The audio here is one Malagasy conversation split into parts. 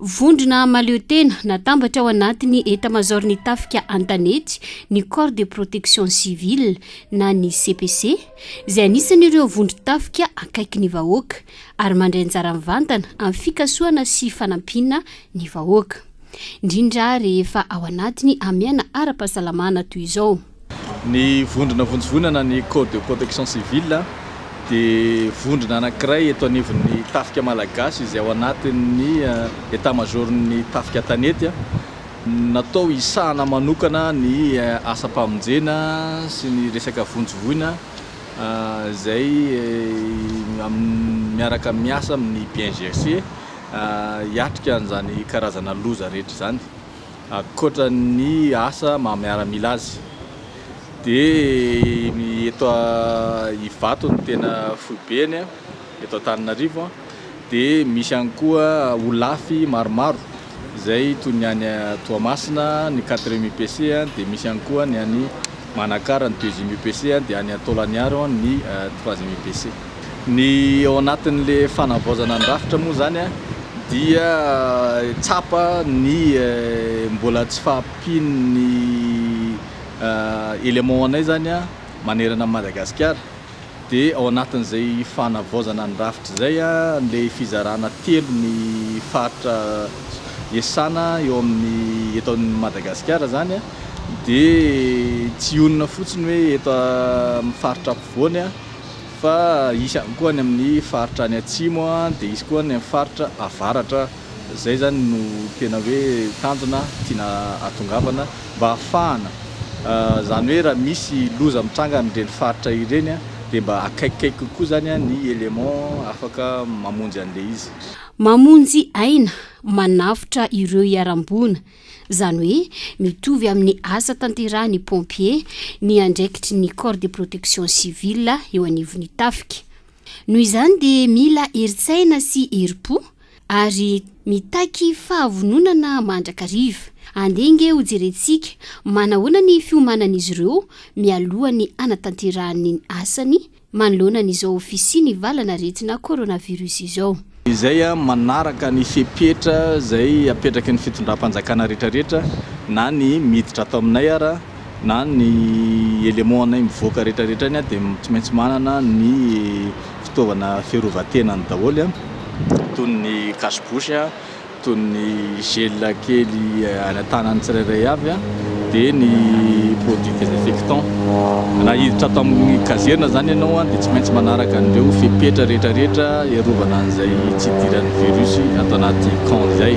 Vondrona mahaleo tena natambatra ao anatin'ny etamazaorin'ny tafika an-tanety ny Corps de Protection Civile na ny CPC izay anisan'ireo vondron-tafika akaiky ny vahoaka ary mandray anjara mivantana amin'ny fikasohana sy fanampiana ny vahoaka indrindra rehefa ao anatin'ny amiana ara-pahasalamana toy izao. Ny vondrona vonjivonana ny Corps de Protection Civile dia vondrona anankiray eto anivon'ny Tafika Malagasy izay ao anatin'ny Etat Major-n'ny Tafika an-tanety. Natao hisahana manokana ny asam-pamonjena sy ny resaka vonjivoina izay miaraka miasa amin'ny BNGRC hiatrika an'izany karazana loza rehetra izany. Ankoatra ny asa maha miaramila azy dia eto Ivato no tena foibeny eto Antananarivo dia misy ihany koa Olafy maromaro izay toy ny any Toamasina ny quatrième UPC dia misy ihany koa ny any Manakara ny deuxième UPC dia any Antaolagnaro ny troisième UPC. Ny ao anatin'le fanavaozana ny rafitra moa zany dia tsapa ny mbola tsy fahampian'ny éléments anay zany manerana an'i Madagasikara dia ao anatin'izay fanavaozana ny rafitra izay le fizarana telo ny faritra iasana eo amin'ny eto amin'i Madagasikara zany dia tsy ionona fotsiny hoe eto amin'ny faritra ampovoany Fa hisy ihany koa any amin'ny faritra any atsimo dia hisy koa any amin'ny faritra avaratra. Izay izany no tena hoe tanjona tiana atongavana mba hahafahana. Izany hoe raha misy loza mitranga any ireny faritra ireny dia mba akaikikaiky kokoa izany ny élément afaka mamonjy an'ilay izy. Mamonjy aina, manavotra ireo iharam-boina Izany hoe mitovy amin'ny asa tanterahan'ny pompier ny andraikitry ny corps de protection civile eo anivon'ny tafika. Noho izany dia mila herin-tsaina sy herim-po ary mitaky fahavononana mandrakariva. Andeha ange ho jerentsika manahoana ny fiomanan'izy ireo mialohan'ny hanatanterahany ny asany manoloana an'izao fisian'ny valan'aretina coronavirus izao. Izay manaraka ny fepetra izay apetraky ny fitondram-panjakana rehetrarehetra, na ny miditra ato aminay ara, na ny éléments-nay mivoaka rehetrarehetra any dia tsy maintsy manana ny fitaovana fiarovan-tenany daholo, toy ny cache-bouche, toy ny gel kely any an-tanan'ny tsirairay avy, dia ny produits désinfectants. Raha hiditra ato amin'ny kazerina izany ianao dia tsy maintsy manaraka an'ireo fepetra rehetrarehetra hiarovana an'izay tsy hidiran'ny virus ato anaty camp izay.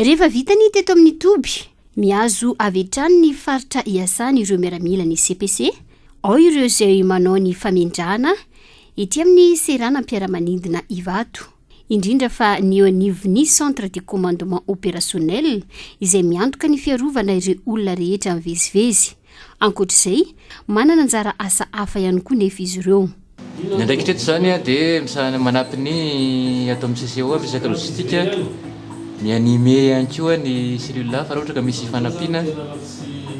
Rehefa vita ny teto amin'ny toby, mihazo avy hatrany ny faritra iasany ireo miaramila ny CPC, ao ireo izay manao ny famendrahana, Ety amin'ny seranam-piaramanidina Ivato, indrindra fa ny eo anivon'ny Centre de Commandement Opérationnel izay miantoka ny fiarovana ireo olona rehetra mivezivezy. Ankoatra izay, manana anjara asa hafa ihany koa nefa izy ireo. Ny andraikitra eto izany dia misahana manampy ny ato amin'ny CCO amin'ny resaka logistique, mi-animer ihany koa ny cellule hafa raha ohatra ka misy fanampiana.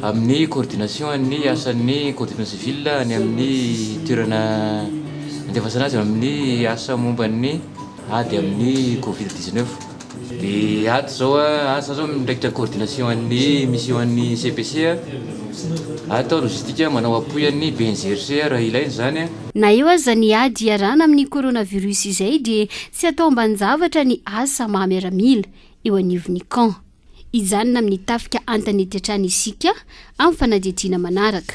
amin'ny coordination an'ny asan'ny Coordination civile any amin'ny toerana andefasana azy amin'ny asa momba ny ady amin'ny covid dix neuf. Ny ady zao asa zao mitraikitra coordination an'ny mission an'ny CPC atao logistique manao appui an'ny BNGRC raha ilaina izany. Na eo aza ny ady iarahana amin'ny coronavirus izay dia tsy atao ambanin-javatra ny asa maha miaramila eo anivon'ny camp. Hijanona amin'ny tafika an-tanety hatrany isika amin'ny fanadihadiana manaraka.